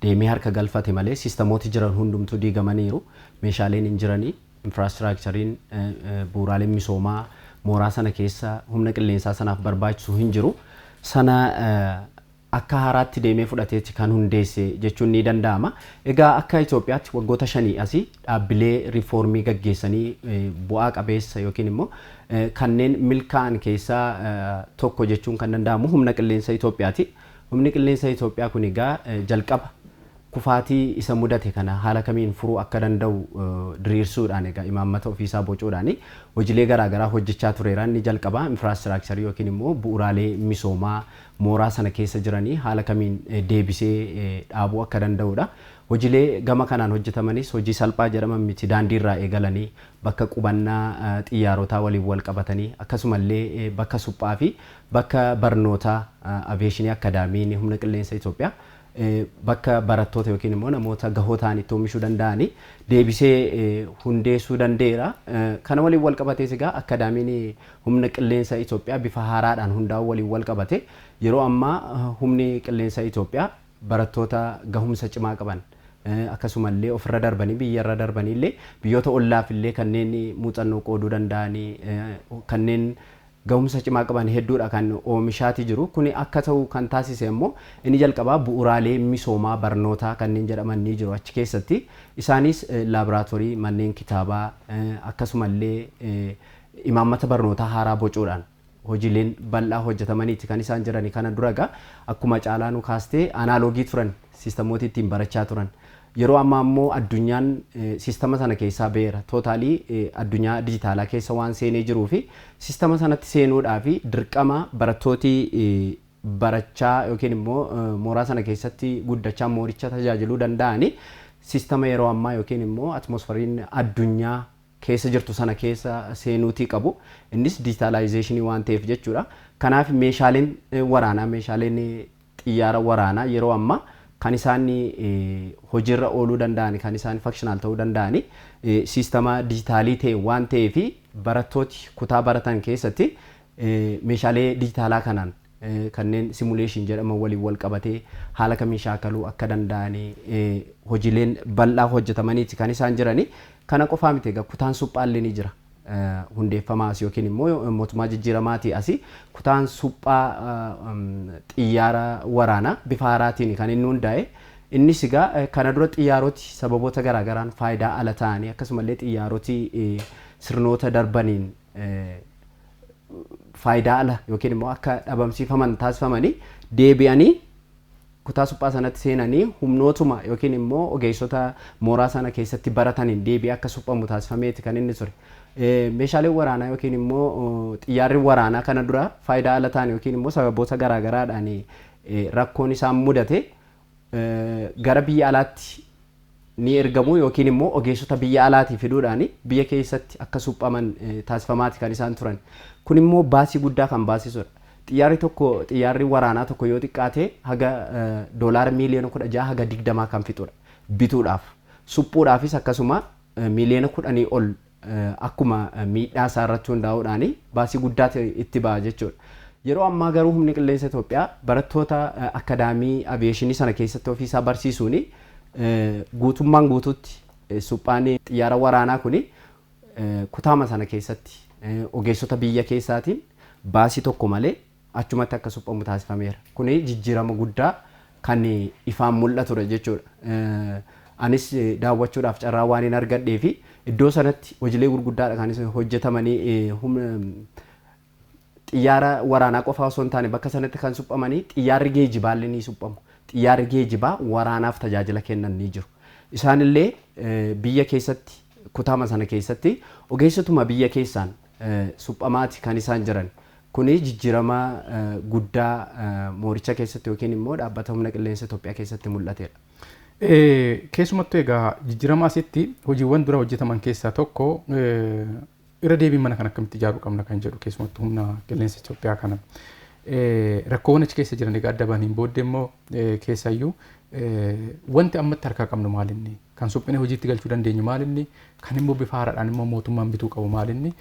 deemee harka galfate malee siistamooti jiran hundumtuu diigamaniiru meeshaaleen hin jiranii infraastiraakchariin, bu'uuraaleen misoomaa mooraa sana keessa humna qilleensaa sanaaf barbaachisu hin jiru. Sana akka haaraatti deemee fudhateeti kan hundeesse jechuun ni danda'ama. Egaa akka Itoophiyaatti waggoota shanii asii dhaabbilee riifoormii gaggeessanii bu'aa qabeessa yookiin immoo kanneen milkaa'an keessaa tokko jechuun kan danda'amu humna qilleensa Itoophiyaati. Humni qilleensa Itoophiyaa kun egaa jalqaba Kufaatii isa mudate kana haala kamiin furuu akka danda'u diriirsuudhaan egaa imaammata ofiisaa bocuudhaan hojilee garaa garaa hojjechaa tureera. Inni jalqabaa infiraastiraakcharii yookiin immoo bu'uraalee misoomaa mooraa sana keessa jiranii haala kamiin deebisee dhaabuu akka danda'uudha. Hojilee gama kanaan hojjetamanis hojii salphaa jedhaman miti. Daandii irraa eegalanii bakka qubannaa xiyyaarotaa waliin walqabatanii akkasuma illee bakka suphaa fi bakka barnootaa Aviyeeshinii Akkadaamiin Humna Qilleensa Itoophiyaa bakka barattoota yookiin immoo namoota gahoo ta'an itti oomishuu danda'ani deebisee hundeessuu danda'eera. Kana waliin wal qabatees egaa akkaadaamiin humna qilleensa Itoophiyaa bifa haaraadhaan hundaa'uu waliin wal qabate yeroo ammaa humni qilleensa Itoophiyaa barattoota gahumsa cimaa qaban akkasumallee ofirra darbanii biyyarra darbaniillee biyyoota ollaafillee kanneen muuxannoo qooduu danda'ani kanneen gahumsa cimaa qaban hedduudha kan oomishaati jiru. Kuni akka ta'u kan taasise ammoo inni jalqabaa bu'uuraalee misoomaa barnootaa kanneen jedhaman ni jiru achi keessatti. Isaaniis laaboraatorii, manneen kitaabaa, akkasumallee imaammata barnootaa haaraa bocuudhaan hojiileen bal'aa hojjetamaniiti kan isaan jirani. Kana dura egaa akkuma Caalaanuu kaaste anaaloogii turan siistemmooti ittiin barachaa turan. Yeroo ammaa immoo addunyaan sistama sana keessaa ba'eera. Totally addunyaa dijitaalaa keessa waan seenee jiruu fi sistama sanatti seenuudhaaf dirqama barattooti barachaa yookiin immoo mooraa sana keessatti guddachaa mooricha tajaajiluu danda'ani sistama yeroo ammaa yookiin immoo atmosfariin addunyaa keessa jirtu sana keessa seenuutii qabu. Innis dijitaalaayizeeshinii waan ta'eef jechuudha. Kanaaf meeshaaleen waraanaa meeshaaleen Xiyyaara waraanaa yeroo ammaa kan isaan hojiirra ooluu danda'an, kan isaan functional ta'uu danda'an siistama dijitaalii ta'een waan ta'eef barattooti kutaa baratan keessatti meeshaalee dijitaalaa kanaan kanneen simulation jedhaman waliin wal qabatee haala kamiin shaakaluu akka danda'an hojiileen bal'aa hojjetamaniiti kan isaan jiranii. Kana qofaa miti egaa kutaan suphaa illee ni jira. hundeeffamaa asi yookiin immoo mootummaa jijjiiramaatii asi kutaan suphaa xiyyaara waraanaa bifa haaraatiin kan inni hundaa'e. Innis egaa kana dura xiyyaaroti sababoota garaa garaan faayidaa ala ta'anii akkasumallee xiyyaaroti sirnoota darbaniin faayidaa ala yookiin immoo akka dhabamsiifaman taasifamanii deebi'anii kutaa suphaa sanatti seenanii humnootuma yookiin immoo ogeessota mooraa sana keessatti barataniin deebi'ee akka suphamu taasifameeti kan inni ture. Meeshaaleen waraanaa yookiin immoo xiyyaarri waraanaa kana dura faayidaa ala ta'an yookiin immoo sababoota garaa garaadhaan rakkoon isaan mudate gara biyya alaatti ni ergamu yookiin immoo ogeessota biyya alaatii fiduudhaan biyya keessatti akka suphaman taasifamaati kan isaan turan. Kun immoo baasii guddaa kan baasisudha. Xiyyaarri tokko xiyyaarri waraanaa tokko yoo xiqqaate haga doolaara miiliyoona 16 haga 20 kan fixudha. Bituudhaaf. Suphuudhaafis akkasuma miiliyoona 10 ol akkuma miidhaa isaa irratti hundaa'uudhaan baasii guddaatu itti ba'a jechuudha. Yeroo ammaa garuu Humni Qilleensa Itoophiyaa barattoota akkadaamii aviyeeshinii sana keessatti ofii isaa barsiisuun guutummaan guutuutti suphaan xiyyaara waraanaa kun kutaama sana keessatti ogeessota biyya keessaatiin baasii tokko malee achumatti akka suphamu taasifameera. Kuni jijjiirama guddaa kan ifaan mul'atudha jechuudha. Anis daawwachuudhaaf carraa waanin argadheefi iddoo sanatti hojilee gurguddaadha kan isa hojjetamanii humna xiyyaara waraanaa qofaa osoo hin taane bakka sanatti kan suphamanii xiyyaarri geejibaallee ni suphamu. Xiyyaarri geejibaa waraanaaf tajaajila kennan ni jiru. Isaanillee biyya keessatti kutaama sana keessatti ogeessotuma biyya keessaan suphamaati kan isaan jiran. Kuni jijjiirama guddaa mooricha keessatti yookiin immoo dhaabbata humna qilleensa Itoophiyaa keessatti mul'atedha.
Keessumattuu egaa jijjiirama asitti hojiiwwan dura hojjetaman keessaa tokko irra deebiin mana kana akkamitti ijaaruu qabna kan jedhu keessumattuu humna qilleensa Itoophiyaa kana. Rakkoowwan achi keessa jiran egaa adda bahaniin booddee immoo keessayyuu wanti ammatti harkaa qabnu maalinni? Kan suphinee hojiitti galchuu dandeenyu maalinni? Kan immoo bifa haaraadhaan immoo mootummaan bituu qabu maalinni?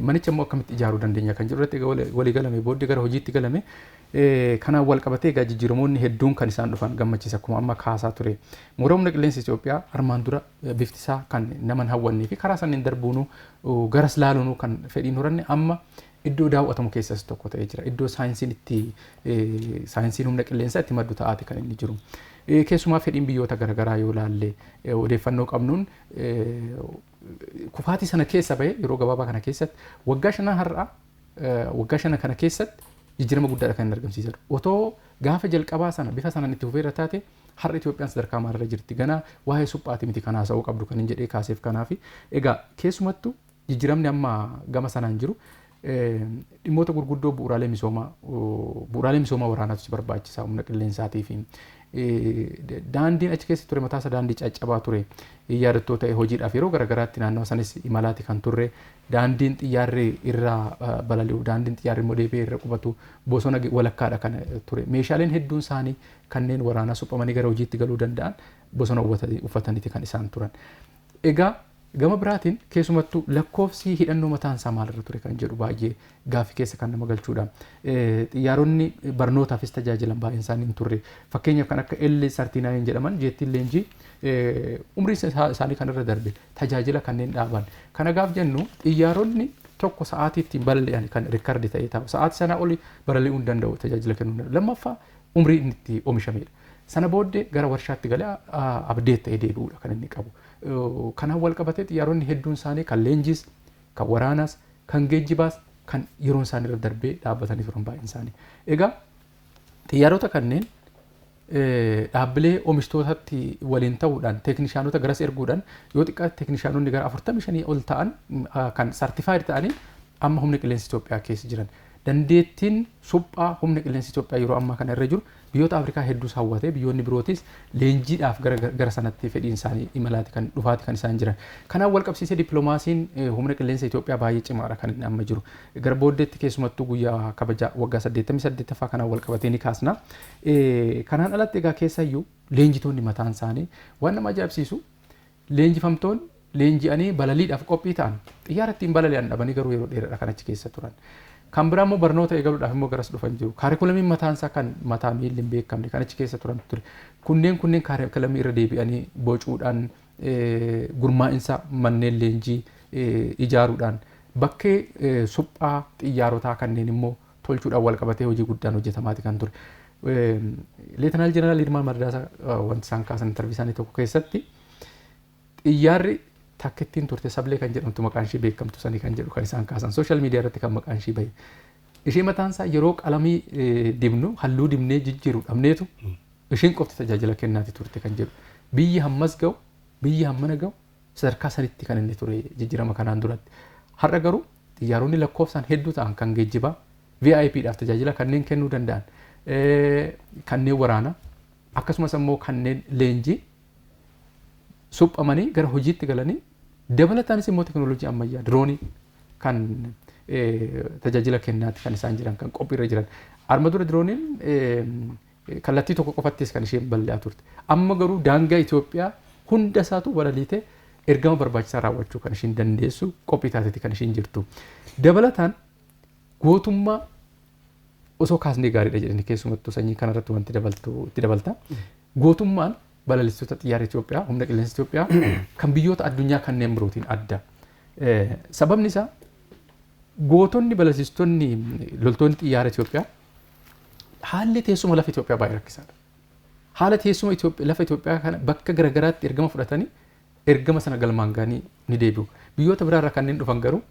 Manicha immoo akkamitti ijaaruu dandeenya kan jedhu irratti egaa walii galamee booddee gara hojiitti galame. Kanaan wal qabatee egaa jijjiiramoonni hedduun kan isaan dhufan gammachiisa akkuma amma kaasaa ture. Mooraa humna qilleensa Itoophiyaa armaan dura bifti isaa kan nama hin hawwannee fi karaa sanniin darbuunuu garas laaluunuu kan fedhiin horanne amma iddoo daawwatamu keessas tokko ta'ee jira. Iddoo saayinsiin itti saayinsiin humna qilleensaa itti maddu ta'aati kan inni jiru. Keessumaa fedhiin biyyoota garaagaraa yoo ilaalle odeeffannoo qabnuun kufaatii sana keessa bahee yeroo gabaabaa kana keessatti waggaa shanan har'aa waggaa shanan kana keessatti jijjiirama guddaadha kan inni argamsiisaa jiru. Otoo gaafa jalqabaa sana bifa sanaan itti fufeerra taate har'a Itoophiyaan sadarkaa maalirra jirti ganaa waa'ee suphaati miti kan haasa'uu qabdu kan hin jedhee kaaseef kanaafi. Egaa keessumattuu Jijjiramni amma gama sanaan jiru dhimmoota gurguddoo bu'uuraalee misoomaa bu'uuraalee misoomaa waraanaatu si barbaachisa humna qilleensaatii fi daandiin achi keessa ture mataasa daandii caccabaa ture yaadattoo ta'e hojiidhaaf yeroo garaagaraatti naannawa sanis imalaati kan turre daandiin xiyyaarri irraa balali'u daandiin xiyyaarri immoo deebi'ee irra qubatu bosona walakkaadha kan ture meeshaaleen hedduun isaanii kanneen waraanaa suphamanii gara hojiitti galuu danda'an bosona uffataniiti kan isaan turan. Egaa Gama biraatiin keesumattuu lakkoofsii hidhannoo mataan isaa maal irra ture kan jedhu baay'ee gaaffi keessa kan nama galchuudha. Xiyyaaronni barnootaafis tajaajilan baay'een isaanii hin turre. Fakkeenyaaf kan akka L-39 jedhaman jeettiin leenjii umrii isaanii kan irra darbe tajaajila kanneen dhaaban. Kana gaaf jennu xiyyaaronni tokko sa'aatii ittiin balali'an kan rikardi ta'ee taa'u. Sa'aatii sanaa oli balali'uu hin danda'u tajaajila kennuu hin danda'u. Lammaffaa umrii inni itti oomishamedha. Sana booddee gara warshaatti galee abdeet ta'ee deebi'uudha kan inni qabu. Kanaan walqabatee xiyyaaronni hedduun isaanii kan leenjiis, kan waraanaas, kan geejjibaas kan yeroon isaanii irra darbee dhaabbatanii turan baay'een isaanii. Egaa xiyyaarota kanneen dhaabbilee oomishtootatti waliin ta'uudhaan teeknishaanota garas erguudhaan yoo xiqqaate teeknishaanonni gara 45 ol ta'an kan sartifaayid ta'anii amma humna qilleensa Itoophiyaa keessa jiran. Dandeettiin suphaa humna qilleensa Itoophiyaa yeroo ammaa kana irra jiru Biyyoota Afrikaa hedduus hawwatee biyyoonni birootis leenjiidhaaf gara gara sanatti fedhiin isaanii imalaati kan dhufaati kan isaan jiran. Kanaan wal qabsiisee dippiloomaasiin humna qilleensa Itoophiyaa baay'ee cimaadha kan inni amma jiru. Gara booddeetti keessumattuu guyyaa kabaja waggaa 88ffaa kanaan wal qabatee ni kaasna. Kanaan alatti egaa keessayyuu leenjitoonni mataan isaanii waan nama ajaa'ibsiisu Leenjifamtoonni leenji'anii balaliidhaaf qophii ta'an xiyyaara ittiin balali'an dhabanii garuu yeroo dheeradha kan achi keessa turan. Kan biraa immoo barnoota eegaluudhaaf immoo garas dhufan jiru. Kaarikulamiin mataan isaa kan mataa miilli hin beekamne kan achi keessa turantu ture. Kunneen kunneen kaarikulamii irra deebi'anii bocuudhaan gurmaa'insa manneen leenjii ijaaruudhaan bakkee suphaa xiyyaarotaa kanneen immoo tolchuudhaan walqabatee hojii guddaan hojjetamaati kan ture. Leetanaal Jeneraal Yilmaa Mardaasaa wanti isaan kaasan intarvii isaanii tokko keessatti xiyyaarri takkittiin turte sablee kan jedhamtu maqaan ishee beekamtu sanii kan jedhu kan isaan kaasan sooshaal miidiyaa irratti kan maqaan ishee bahe. Ishee mataan isaa yeroo qalamii dibnu halluu dibnee jijjiiru dhabneetu isheen qofti tajaajila kennaati turte kan jedhu. Biyyi hammas ga'u biyyi hammana ga'u Sadarkaa saditti kan inni ture jijjirama kanaan duratti. Har'a garuu xiyyaaronni lakkoofsaan hedduu ta'an kan geejjibaa VIP dhaaf tajaajila kanneen kennuu danda'an, kanneen waraanaa akkasumas ammoo kanneen leenjii suphamanii gara hojiitti galanii dabalataanis immoo teknooloojii ammayyaa diroonii kan tajaajila kennaatti kan isaan jiran kan qophiirra jiran. Arma dura dirooniin Kallattii tokko qofattis kan isheen balali'aa turte. Amma garuu daangaa Itoophiyaa hunda isaatu balaliitee ergama barbaachisaa raawwachuu kan isheen dandeessu qophii taateeti kan isheen jirtu. Dabalataan gootummaa osoo kaasnee gaariidha jedhani keessumattuu sanyii kanarratti wanti dabaltu itti dabalta. Gootummaan balalistoota xiyyaara Itoophiyaa, humna qilleensa Itoophiyaa kan biyyoota addunyaa kanneen birootiin adda. Sababni isaa gootonni balalsiistonni loltoonni xiyyaara Itoophiyaa Haalli teessuma lafa Itoophiyaa baay'ee rakkisaadha. Haala teessuma lafa Itoophiyaa kana bakka garaagaraatti ergama fudhatanii ergama sana galmaan ga'anii ni deebi'u. Biyyoota biraarraa kanneen dhufan garuu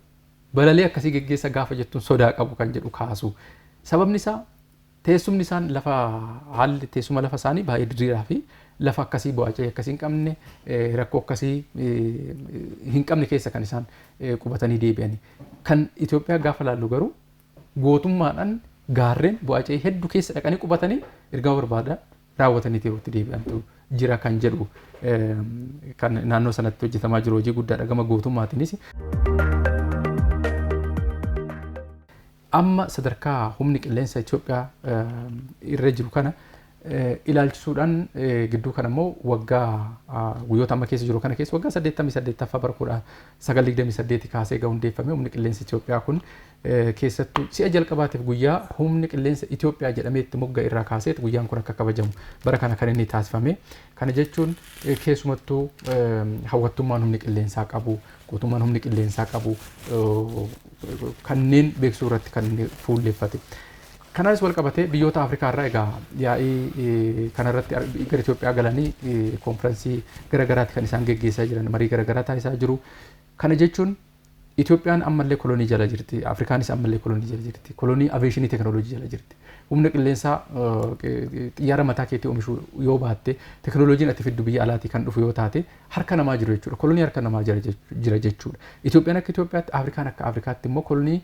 balalii akkasii geggeessa gaafa jettuun sodaa qabu kan jedhu kaasu. Sababni isaa teessumni isaan lafa haalli teessuma lafa isaanii baay'ee diriiraa fi lafa akkasii bu'aacee akkasii hin qabne rakkoo akkasii hin qabne keessa kan isaan qubatanii deebi'anii. Kan Itoophiyaa gaafa laallu garuu gootummaadhaan gaarreen Bo'acee heddu keessa dhaqanii qubatanii ergama barbaadaa raawwatanii Teewutti deebi'antu jira kan jedhu kan naannoo sanatti hojjetamaa jiru hojii guddaadha gama gootummaatiinis. Amma sadarkaa humni qilleensa Itoophiyaa irra jiru kana ilaalchisuudhaan gidduu kana immoo waggaa guyyoota amma keessa jiru kana keessa waggaa 88ffaa bara 1928 kaasee egaa hundeeffame humni qilleensa Itoophiyaa kun keessattuu si'a jalqabaatiif guyyaa humni qilleensa Itoophiyaa jedhamee itti mogga'e irraa kaaseet guyyaan kun akka kabajamu bara kana kan inni taasifame. Kana jechuun keessumattuu hawwattummaan humni qilleensaa qabu, guutummaan humni qilleensaa qabu kanneen beeksisuu irratti kan inni fuulleffate. Kanaanis wal qabatee biyyoota Afrikaa irraa egaa yaa'ii kanarratti gara Itoophiyaa galanii konfiraansii gara garaatti kan isaan geggeessaa jiran marii gara garaa taasisaa jiru. Kana jechuun Itoophiyaan ammallee kolonii jala jirti. Afrikaanis ammallee kolonii jala jirti. Kolonii aveeshinii tekinooloojii jala jirti. Humna qilleensaa xiyyaara mataa keetii oomishuu yoo baatte tekinooloojiin ati fiddu biyya alaatii kan dhufu yoo taate harka namaa jiru jechuudha. Kolonii harka namaa jira jechuudha. Itoophiyaan akka Itoophiyaatti Afrikaan akka Afrikaatti immoo kolonii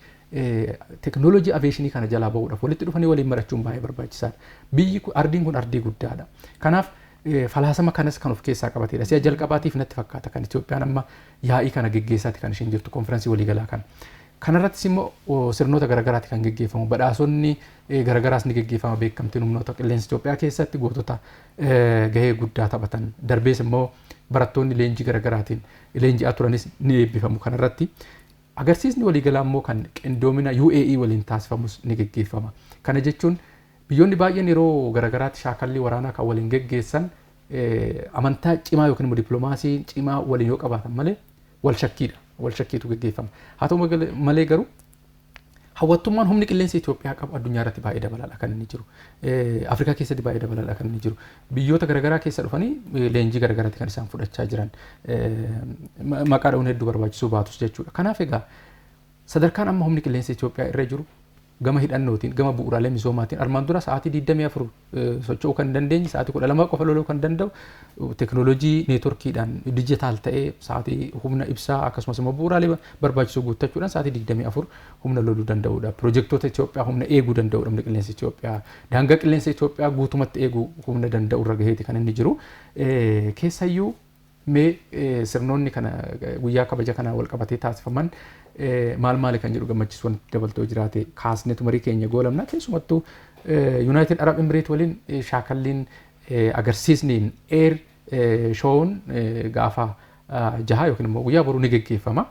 tekinooloojii aveeshinii kana jalaa bahuudhaaf walitti dhufanii waliin marachuun baay'ee barbaachisaadha. Biyyi ardiin kun ardii guddaadha. Kanaaf Falaasama kanas kan of keessaa qabateedha. Si'a jalqabaatiif natti fakkaata kan Itoophiyaan amma yaa'ii kana geggeessaati kan isheen jirtu konfiransii waliigalaa kana. Kanarrattis immoo sirnoota garaagaraati kan geggeeffamu. Badhaasonni garaagaraas ni geggeeffama beekamtiin humnoota qilleensa Itoophiyaa keessatti gootota gahee guddaa taphatan. Darbees immoo barattoonni leenjii garaagaraatiin leenji'aa turanis ni eebbifamu kanarratti. Agarsiisni waliigalaa immoo kan qindoomina UAE waliin taasifamus ni geggeeffama. Kana jechuun biyyoonni baay'een yeroo garagaraatti shaakallii waraanaa kan waliin geggeessan amantaa cimaa yookiin immoo dippiloomaasii cimaa waliin yoo qabaatan malee walshakkiidha. Walshakkiitu geggeeffama. Haa ta'u malee garuu Hawwattummaan humni qilleensa Itoophiyaa qabu addunyaa irratti baay'ee dabalaadha kan inni jiru. Afrikaa keessatti baay'ee dabalaadha kan inni jiru. Biyyoota garaagaraa keessa dhufanii leenjii garaagaraatti kan isaan fudhachaa jiran. Maqaa dha'uun hedduu barbaachisuu baatus jechuudha. Kanaaf egaa sadarkaan amma humni qilleensa Itoophiyaa irra jiru gama hidhannootiin, gama bu'uuraalee misoomaatiin armaan dura sa'aatii 24 socho'uu kan dandeenye sa'aatii kudha lama qofa loluu kan danda'u teknoolojii neetworkiidhaan dijitaal ta'ee sa'aatii humna ibsaa akkasumas immoo bu'uuraalee barbaachisoo guuttachuudhaan sa'aatii digdamii afur humna loluu danda'uudha. Pirojektoota Itoophiyaa humna eeguu danda'uudha humna qilleensa Itoophiyaa. Daangaa qilleensa Itoophiyaa guutumatti eeguu humna danda'u irra gaheeti kan inni jiru. Keessayyuu Mee sirnoonni kana guyyaa kabaja kanaa wal qabatee taasifaman maal maali kan jedhu gammachiisu wanti dabaltoo jiraate kaasnetu marii keenya goolabna keessumattuu Yuunaayitid Arab Emireet waliin shaakalliin agarsiisni eer shoowun gaafa jaha yookiin immoo guyyaa boruu ni geggeeffama.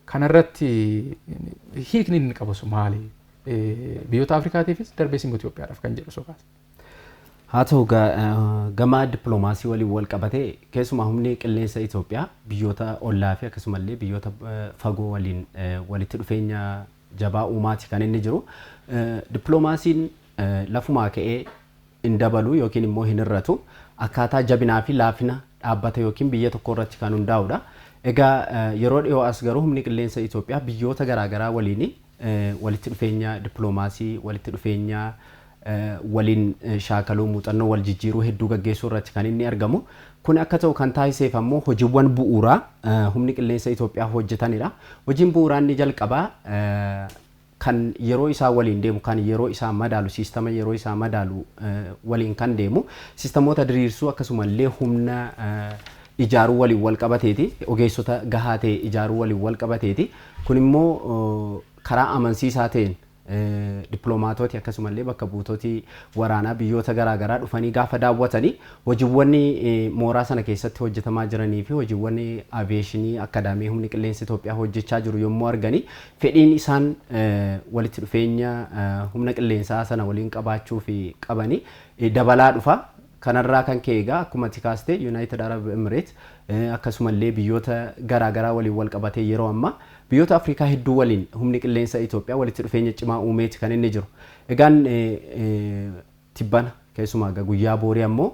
Kanarratti hiikni inni qabu maali? Biyyoota Afrikaatiifis darbees immoo Itoophiyaadhaaf kan jedhu sokaasa. Haa
ta'u gama dippiloomaasii waliin walqabatee keessumaa humni qilleensa Itoophiyaa biyyoota ollaafi akkasumallee biyyoota fagoo waliin walitti dhufeenya jabaa uumaati kan inni jiru. Dippiloomaasiin lafumaa ka'ee hin dabalu yookiin immoo hin hir'atu. Akkaataa jabinaa fi laafina dhaabbata yookiin biyya tokkoo irratti kan hundaa'udha. Egaa yeroo dhiyoo as garuu humni qilleensa Itoophiyaa biyyoota garaagaraa waliin walitti dhufeenya dippiloomaasii, walitti dhufeenya waliin shaakaluu, muuxannoo wal jijjiiruu hedduu gaggeessuu irratti kan inni argamu. Kun akka ta'u kan taasiseef ammoo hojiiwwan bu'uuraa humni qilleensa Itoophiyaa hojjetanidha. Hojiin bu'uuraa inni jalqabaa kan yeroo isaa waliin deemu, kan yeroo isaa madaalu, siistama yeroo isaa madaalu waliin kan deemu siistamoota diriirsuu akkasumallee humna ijaaruu waliin wal qabateeti. Ogeessota gahaa ta'e ijaaruu waliin wal qabateeti. Kun immoo karaa amansiisaa ta'een dippilomaatooti akkasuma illee bakka buutoti waraanaa biyyoota garaa garaa dhufanii gaafa daawwatani hojiiwwan mooraa sana keessatti hojjetamaa jiranii fi hojiiwwan aviyeeshinii akkadaamii humni qilleensa Itoophiyaa hojjechaa jiru yommuu argani fedhiin isaan walitti dhufeenya humna qilleensaa sana waliin qabaachuu fi qabani dabalaa dhufa. Kanarraa kan ka'e egaa akkuma ati kaaste Yunaayitid Arab Emireet akkasumallee biyyoota garaa garaa waliin walqabatee yeroo ammaa biyyoota Afrikaa hedduu waliin humni qilleensa Itoophiyaa walitti dhufeenya cimaa uumeeti kan inni jiru. Egaan tibbana keessumaa egaa guyyaa boorii ammoo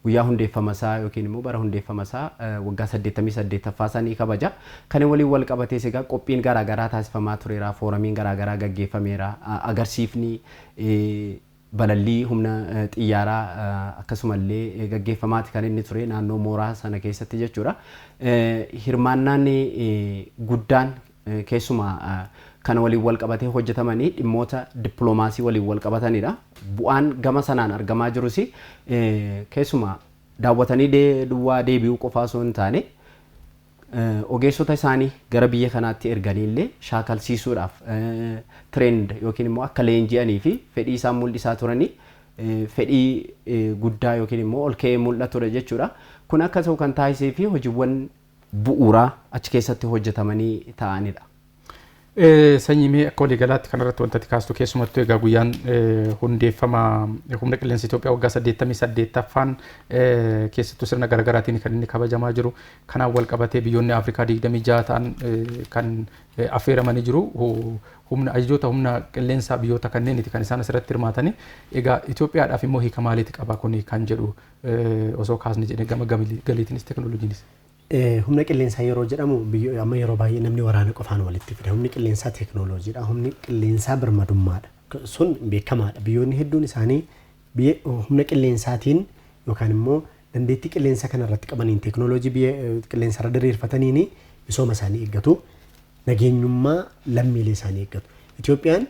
guyyaa hundeeffama isaa yookiin immoo bara hundeeffama isaa waggaa 88ffaa isaa ni kabaja. Kana waliin walqabatees egaa qophiin garaa garaa taasifamaa tureera, fooramiin garaa garaa gaggeeffameera, agarsiifni Balallii humna xiyyaaraa akkasumallee gaggeeffamaati kan inni ture naannoo mooraa sana keessatti jechuudha. Hirmaannaan guddaan keessumaa kana waliin wal qabatee hojjetamanii dhimmoota dippiloomaasii waliin wal qabatanidha. Bu'aan gama sanaan argamaa jirus keessumaa daawwatanii duwwaa deebi'uu qofaa osoo hin taane Ogeessota isaanii gara biyya kanaatti erganii illee shaakalsiisuudhaaf trained yookiin immoo akka leenji'anii fi fedhii isaan mul'isaa turanii fedhii guddaa yookiin immoo ol ka'ee mul'atudha jechuudha. Kun akka ta'u kan taasisee fi hojiiwwan bu'uuraa achi keessatti hojjetamanii ta'anidha.
Sanyii mee akka walii galaatti kanarratti wanta ati kaastu keessumattuu egaa guyyaan hundeeffama humna qilleensa Itoophiyaa waggaa 88ffaan keessattuu sirna garaagaraatiin kan inni kabajamaa jiru. Kanaan wal qabatee biyyoonni Afrikaa 26 ta'an kan affeeramanii jiru. Humna ajajoota humna qilleensaa biyyoota kanneeniiti kan isaan asirratti hirmaatanii. Egaa Itoophiyaadhaaf immoo hiika maaliiti qaba kuni kan jedhu osoo kaasne jedhee gama galiitiinis tekinooloojiinis. Humna
qilleensaa yeroo jedhamu biyyo amma yeroo baay'ee namni waraana qofaan walitti fida. Humni qilleensaa teeknooloojiidha. Humni qilleensaa birmadummaadha. Sun beekamaadha. Biyyoonni hedduun isaanii biyya humna qilleensaatiin yookaan immoo dandeettii qilleensa kana irratti qabaniin teeknooloojii biyya qilleensa irra diriirfataniin misooma isaanii eeggatu. Nageenyummaa lammiilee isaanii eeggatu. Itoophiyaan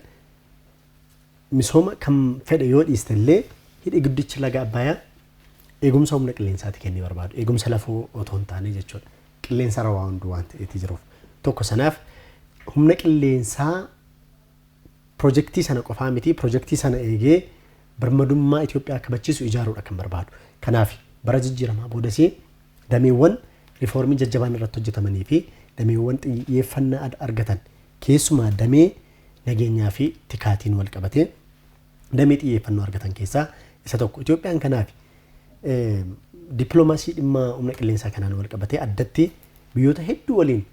Misooma kam fedhe yoo dhiiste illee hidhi guddichi laga Abbayaa eegumsa humna qilleensaati kennee barbaadu. Eegumsa lafoo otoo hin taane jechuudha. Qilleensa irra waa hunduu waan ta'eeti jiruuf. Tokko sanaaf humna qilleensaa pirojektii sana qofaa miti pirojektii sana eegee birmadummaa Itoophiyaa kabachiisu ijaaruudha kan barbaadu. Kanaaf bara jijjiiramaa boodas dameewwan rifoormii jajjabaan irratti hojjetamanii fi dameewwan xiyyeeffannaa argatan keessumaa damee nageenyaa fi tikaatiin wal qabatee damee xiyyeeffannoo argatan keessaa isa tokko. Itoophiyaan kanaaf dippiloomaasii dhimma humna qilleensaa kanaan wal qabatee addatti biyyoota hedduu waliin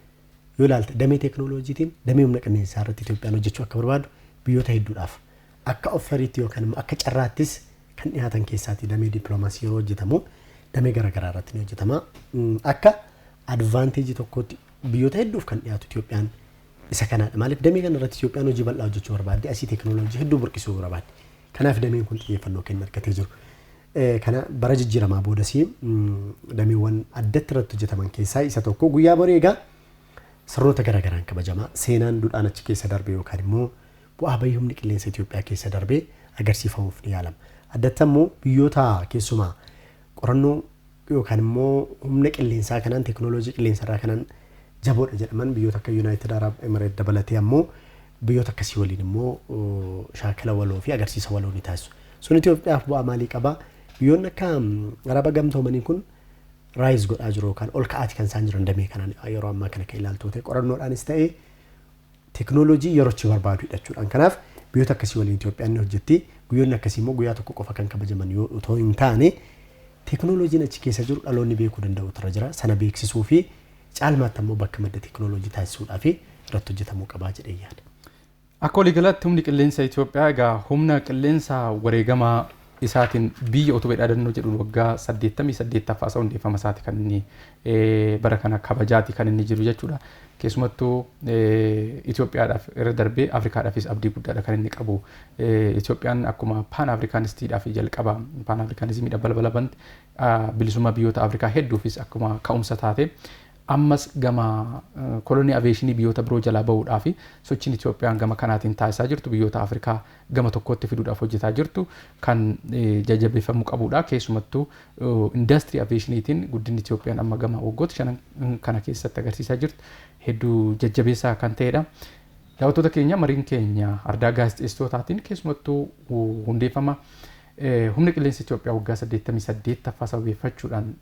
yoo ilaalte damee teeknooloojiitiin damee humna qilleensaa irratti Itoophiyaan hojjechuu akka barbaadu biyyoota hedduudhaaf akka offeriitti yookaan immoo akka carraattis kan dhiyaatan keessaati damee dippiloomaasii yeroo hojjetamu damee garaagaraa irratti ni hojjetama. Akka advaanteejii tokkootti Biyyoota hedduuf kan dhiyaatu Itoophiyaan isa kanaadha. Maaliif damee kana irratti Itoophiyaan hojii bal'aa hojjechuu barbaaddi, asii teekinooloojii hedduu burqisuu barbaaddi. Kanaaf dameen kun xiyyeeffannoo kenna argatee jiru. Kana bara jijjiiramaa boodas dameewwan addatti irratti hojjetaman keessaa isa tokko guyyaa borii egaa sirnoota garaagaraan kabajama. Seenaan dudhaan achi keessa darbe yookaan immoo bu'aa bahii humni qilleensa Itoophiyaa keessa darbe agarsiifamuuf ni yaalama. Addatti ammoo biyyoota keessumaa qorannoo yookaan immoo humna qilleensaa kanaan, teeknooloojii qilleensa irraa kanaan jaboodha jedhaman biyyoota akka Yunaayitid Araab Emireet dabalatee ammoo biyyoota akkasii waliin immoo shaakala waloo fi agarsiisa waloo ni taasisu. Sun Itoophiyaaf bu'aa maalii qaba? Biyyoonni akka Araba gamtoomanii kun raayiz godhaa jiru yookaan ol ka'aati kan isaan jiran damee kanaan yeroo ammaa kana kan ilaaltu ta'e qorannoodhaanis ta'e Teknolojii yerochi barbaadu hidhachuudhaan kanaaf biyyoota akkasii waliin Itoophiyaan ni hojjetti. Guyyoonni akkasii immoo guyyaa tokko qofa kan kabajaman yoo otoo hin taane teknolojiin achi keessa jiru dhaloonni beekuu danda'uutu irra jira. Sana beeksisuu fi caalmaatti ammoo bakka madda teknolojii taasisuudhaaf irratti hojjetamuu qaba jedhee yaada. Akka waliigalaatti
humni qilleensa Itoophiyaa egaa humna qilleensa wareegamaa isaatin biyya utube dhaadannoo jedhuun waggaa 88ffaasa hundeeffama isaati kan inni bara kana kabajaati kan inni jiru jechuudha. Keessumattuu Itoophiyaadhaaf irra darbee Afrikaadhaafis abdii guddaadha kan inni qabu. Itoophiyaan akkuma paan Afrikaanistiidhaaf jalqaba paan Afrikaanizimiidha balbala bante bilisummaa biyyoota Afrikaa hedduufis akkuma ka'umsa taate ammas gama kolonii aveeshinii biyyoota biroo jalaa bahuudhaaf sochiin Itoophiyaan gama kanaatiin taasisaa jirtu biyyoota Afrikaa gama tokkootti fiduudhaaf hojjetaa jirtu kan jajjabeeffamuu qabuudha. Keessumattuu indaastirii aviyeeshiniitiin guddinni Itoophiyaan amma gama waggoota shanan kana keessatti agarsiisaa jirtu hedduu jajjabeessaa kan ta'edha. Daawwattoota keenya mariin keenya ardaa gaazexeessitootaatiin keessumattuu hundeeffama humna qilleensa Itoophiyaa waggaa 88ffaa sababeeffachuudhaan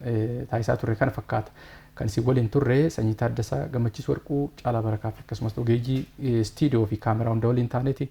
taasisaa turre kana fakkaata. Kan isin waliin turre Sanyii Taaddasaa, Gammachiis Warquu, Caalaa Barakaa fi akkasumas ogeeyyii istiidiyoo fi kaameraa hunda waliin taaneeti.